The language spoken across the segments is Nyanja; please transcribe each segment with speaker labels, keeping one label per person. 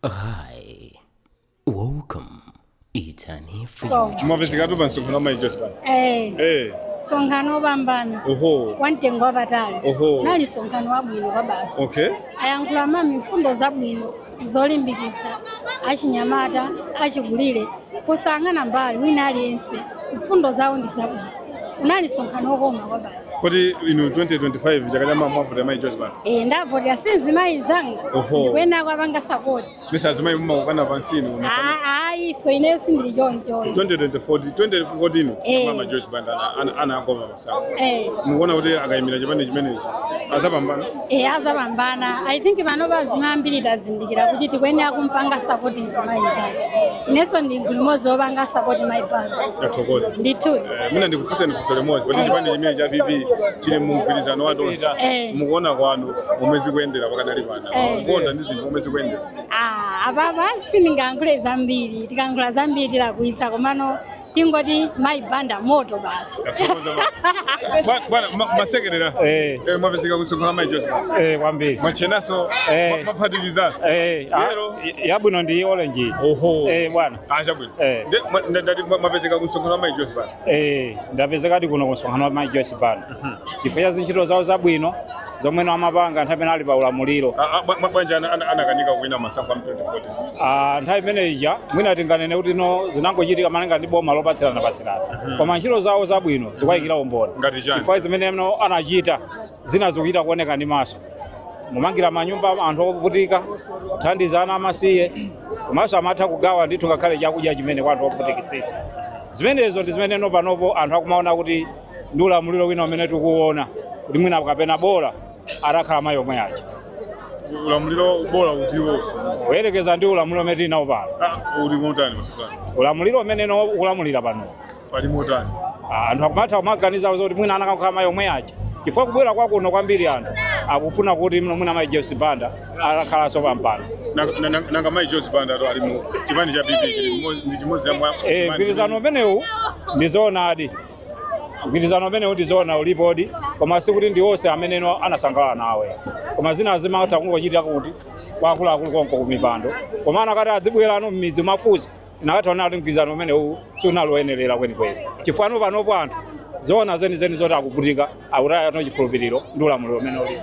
Speaker 1: Hi. Welcome. It's an Welcome. future. mwapezekatu pa msonkhano
Speaker 2: wa mayi Joyce Banda Eh, Eh,
Speaker 3: msonkhano wopambana oho wamtengo wapatali Oho. unali msonkhano wabwino kwabasi okay ayankhula mami mfundo zabwino zolimbikitsa achinyamata achikulire posayang'ana mbali wina aliyense mfundo zawo ndi zabwino unali msonkhano wokoma kwabasi Kodi
Speaker 2: inu 2025 chaka chamawa muwavotera mayi Joyce Banda? Eh, ndiwavotera si
Speaker 3: mzimayi mnzanga. Oho. Ndikuyenera kuwapanga support. Mesa azimayi mumakokana
Speaker 2: pansi inu. Ah, ah,
Speaker 3: izo ineyo sindili choncho.
Speaker 2: 2024 2014 Eh. mama Joyce Banda ana- ana anagoma masankho. Eh. Mukuona kuti akayimira chipani chimenechi azapambana. e
Speaker 3: azapambana i think panopa azimayi ambiri tazindikira kuti tikuyenera kumpanga sapoti mzimayi mnzathu inenso ndi mgulu limodzi wopanga sapoti mayi Banda ndathokoza ndithu
Speaker 2: Eh, mwina
Speaker 3: ndikufunseni funso
Speaker 2: limodzi poti chipani chimenechi cha PP chili mu mgwirizano wa tonse Eh. mukuona kwanu momwe zikuyendera pakadali pano Eh. mukuona ndi zinthu momwe zikuyendera Ah, apapa
Speaker 3: sindingayankhule zambiri tikayankhula zambiri tilakwitsa komano tingoti mayi banda moto
Speaker 2: basi bwana masekerera eh. eh, mwapezeka kumsonkhano wa mayi Joyce Banda eh, kwambiri mwatchenanso mwaphatikiza
Speaker 4: yabwino ndi orange oho bwana ah,
Speaker 2: chabwino ndati mwapezeka kumsonkhano wa mayi Joyce Banda
Speaker 4: ndapezekadi kuno kumsonkhano wa mayi Joyce Banda mhm. chifukwa cha zintchito zawo zabwino zomwe no amapanga nthawi imene ali pa ulamuliro. Ah, ah, bwa- Bwanji ana-
Speaker 2: ana- anakanika kuwina masankho a mu 2014? Ah, nthawi imene
Speaker 4: ija mwina tinganene kuti no zinangochitika malinga ndi boma lopatsirana patsirana koma ntchito zawo zabwino zikuwayikira umboni Ngati chani? chifukwa zimene no anachita zina zikuchita kuoneka ndi maso kumangira manyumba anthu ovutika kuthandiza ana amasiye komanso amatha kugawa ndithu ngakhale chakudya chimene kwa anthu ovutikitsitsa zimenezo ndi zimene no panopo anthu akumaona kuti ndi ulamuliro wina umene tikuwona kuti mwina kapena bola atakhala mayi omwe aja
Speaker 2: ulamuliro bola utiwo kuyerekeza ndi
Speaker 4: ulamuliro umene tili nawo pano ah, uli motani
Speaker 2: masukani ulamuliro umene no
Speaker 4: ukulamulira pano pali motani
Speaker 2: Ah, anthu
Speaker 4: akumatha kumaganiza zoti mwina anakakhala mayi omwe aja chifukwa kubwera kwakuno kwambiri anthu akufuna kuti mno mwina mayi Joyce Banda atakhalanso pampando Nanga- nanga nanga mayi
Speaker 2: Joyce Banda ato ali mu chipani cha PP chili mmodzi- ndi chimodzi ya mwa- Eh, mgwirizano umenewu
Speaker 4: ndi zoonadi mgwirizano umenewu ndi zoona ulipodi koma sikuti ndi onse amene no anasangalala nawo koma zina zimatha kungochitika kuti kwa akuluakulu konko kumipando koma anakati adzibwera no m'midzi kumafunsa anakatha kuona kuti mgwirizano umenewu sunali woyenerera kwenikweni chifukwa no panopo anthu zoona zenizeni zoti akuvutika akutaya no chikhulupiriro ndi ulamuliro umene ulipo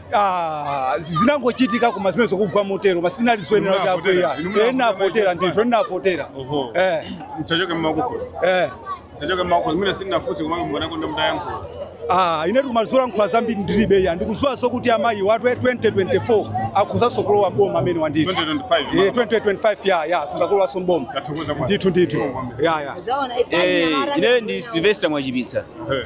Speaker 2: Ah,
Speaker 5: zinangochitika koma zimene zikugwa motero basi zinali zoyenera kuti akwiya ndinavotera ndithu ndinavotera Oho.
Speaker 2: Eh, Zachoka mmakukhosi. eh. Zachoka mmakukhosi. Mimi sinafusi kama mbona kwenda mdayangu. Ah, ine
Speaker 5: kumazolankhula zambiri ndilibe ya ndikuziwa zokuti amayi watu 2024 akuzanso kulowa mboma amene wandithu 2025. Eh, 2025 ya ya kuzakulowanso mboma Tathokoza kwa. ndithu ndithu ya ya Eh,
Speaker 6: ine ndi Sylvester Mwachipitsa. Eh.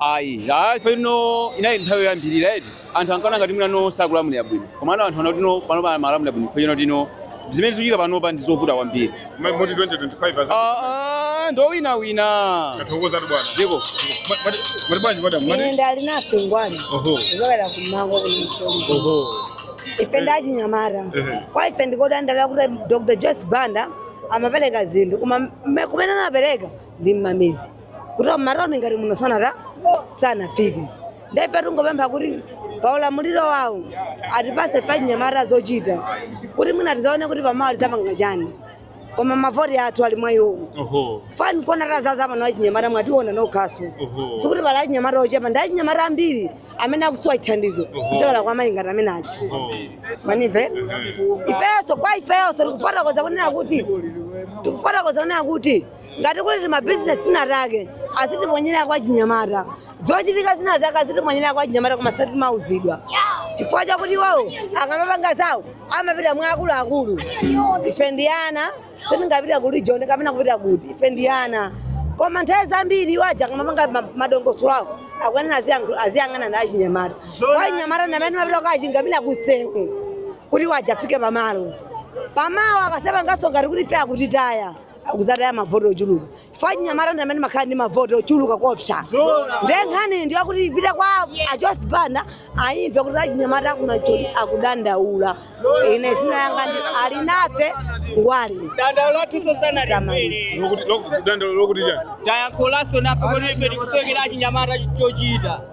Speaker 2: Ayi. Aaa chifukwa
Speaker 6: choti eno inali nthawi yoyambirira eti. Anthu ankaona ngati mwina no sakulamulira bwino. Komano anthu aona kuti no panopa amalamulira bwino chifukwa choti no zimene zikuchitika panopa ndi zovuta kwambiri. Mwa- Moti 2025
Speaker 2: aza. Aaa ndi owinawina.
Speaker 6: Tathokozatu
Speaker 2: bwana. Dziko. Mwa-
Speaker 6: mwati- Mwati
Speaker 7: bwanji madam? Mwati? ine nd'Alinafe Ngwali Oho. kuchokera kumango kumtoli Oho. ife ndachinyamata Ehe. kwa ife ndikudandaula kuti dr joyce banda amapereka zinthu koma mme- kumene anapereka ndi mmamizi kuti mmatauni ngati muno sanata sanafike nde ife tingopempha kuti pa ulamuliro wawo atipase achinyamata zochita kuti mwina tizaone kuti pamawa tidzapanga chani koma mavoti athu ali mwa iwowo Oho. fani kuno tazaza pano achinyamata mwationa nokhaso Oho. sikuti pali achinyamata ochepa ndi achinyamata ambiri amene akusowa chithandizo kuchokera kwa mayi ngati amene aja Oho. Mwamva ifeso kwa ifeso tikufotokoza kunena kuti tikufotokoza kunena kuti ngati kuli timabizinesi tinatake azitiponyera kwa chinyamata zochitika zina zake azitiponyera kwa chinyamata koma satimauzidwa chifukwa chakuti iwowo akamapanga zawo amapita mwa akuluakulu ife ndi ana sitingapita ku region kapena kupita kuti ife ndi ana koma nthawi zambiri iwo aja akamapanga ma- madongosolo awo akuyenera aziyankhu- aziyang'ana ndi achinyamata coz achinyamata ndamene mapita kukachingamira kusewu kuti awa afike pamalo pamawa akazapangaso ngati kuti fe akutitaya akuzataya mavoti ochuluka chifukwa achinyamata ndi amene makhala ndi mavoti ochuluka kopsa nde nkhani ndi yakuti ipite kwa a joyce banda ayimve kuti achinyamata aku Nancholi akudandaula ine zina langa ndi alinafe ngwali dandaulo lathu
Speaker 1: tsosana Tamaliza. Lokuti- lokuti- dandaulo
Speaker 2: lokuti chani tayankhulanso nafe
Speaker 1: kuti ife tikusowekera achinyamata chochita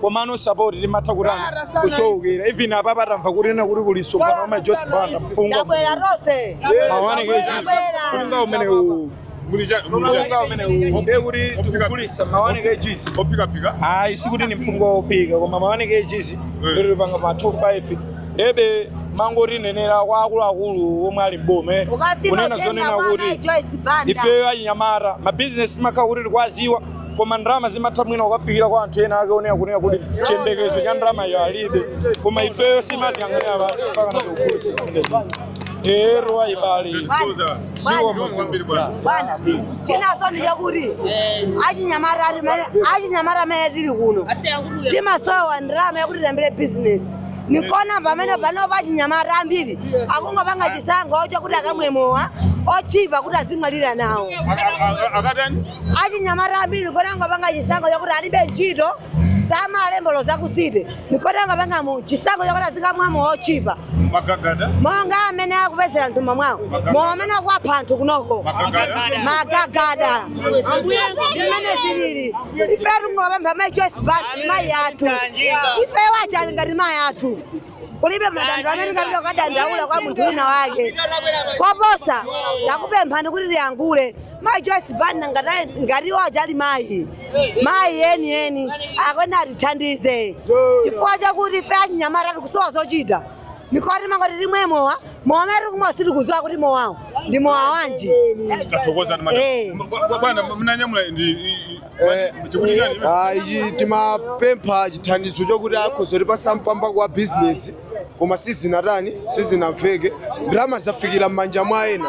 Speaker 5: komano support timatha kutani kusowekera even apapa atamva kunena kuti kuli msonkhano wa mayi joyce banda mpunga Tabwera
Speaker 7: tonse. ma one kgs
Speaker 5: mpunga umenewu mpunga umenewu ndiye kuti tikugulisa ma one kgs ophikaphika
Speaker 2: ayi sikuti ni
Speaker 5: mpunga wophika koma ma one kgs lero panga ma 25 nde amangotinenera kwa akuluakulu omwe ali mboma Ukati kunena machenda zonena wa kuti Joyce Banda. ifeyo achinyamata mabizinesi makhala kuti tikwaziwa koma ndalama zimatha mwina ukafikira kwa anthu ena ake wonena kunena kuti chiyembekezo cha ndalamayo alibe koma ifeyo simaziyang'anira basi mpaka na ufulu sizimenezizo iwo abale siwo
Speaker 7: muzimu bwana chinaso ndi chakuti achinyamata ati mene- achinyamata amene tili kuno timasowa ndalama yakuti tiyambire bizinesi n'kuona pamene panopa achinyamata ambiri akungopanga chisankho chakuti akamwe mowa otchipa kuti azimwalira nawo akatani achinyamata ambiri n'kuona angopanga chisankho chakuti alibe ntchito samalembedwa za ku city n'kuona angopanga chisankho chakuti azikamwa mowa otchipa magagada monga amene akupezera m'thumba mwawo mowa amene akuwapha anthu kunoko magagada magagada ndimene zilili ife tingopempha mai Joyce Banda mai athu ife achali ngati mai athu kulibe madandaulo amene tingapita kukadandaula kwa munthu wina wake koposa takupemphani kuti ayankhule mayi joyce banda ngati- ngati iwo achali mayi mayi enieni akuyenera atithandize chifukwa chakuti ife achinyamata tikusowa zochita n'kuti timangoti timwe mowa mowa amene tikumwa sitikuziwa kuti mowawo ndi mowa wanji tathokoza ndi
Speaker 2: Eh. madam bwana mnanyamula ndi i- i- Eh, chikuti chani iwe? ah,
Speaker 8: ichi timapempha chithandizo chokuti akhoza kutipasa mpamba wa bizinesi koma sizinatani sizinamveke ndalama zafikira m'manja mwa ena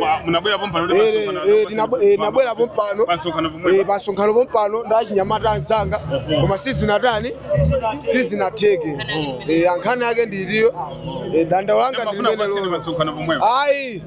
Speaker 8: Wa- munabwera pompano
Speaker 2: kuti Eh, pansonkhano- eh, tinabwe-
Speaker 8: eh, nabwera pompano pansonkhano Eh, pomwe pansonkhano pompano ndi achinyamata anzanga koma sizinatani sizinatheke Eh, nkhani yake ndi iyo dandaulo langa mafuna pasene ndi limenelo pansonkhano pomwe ayi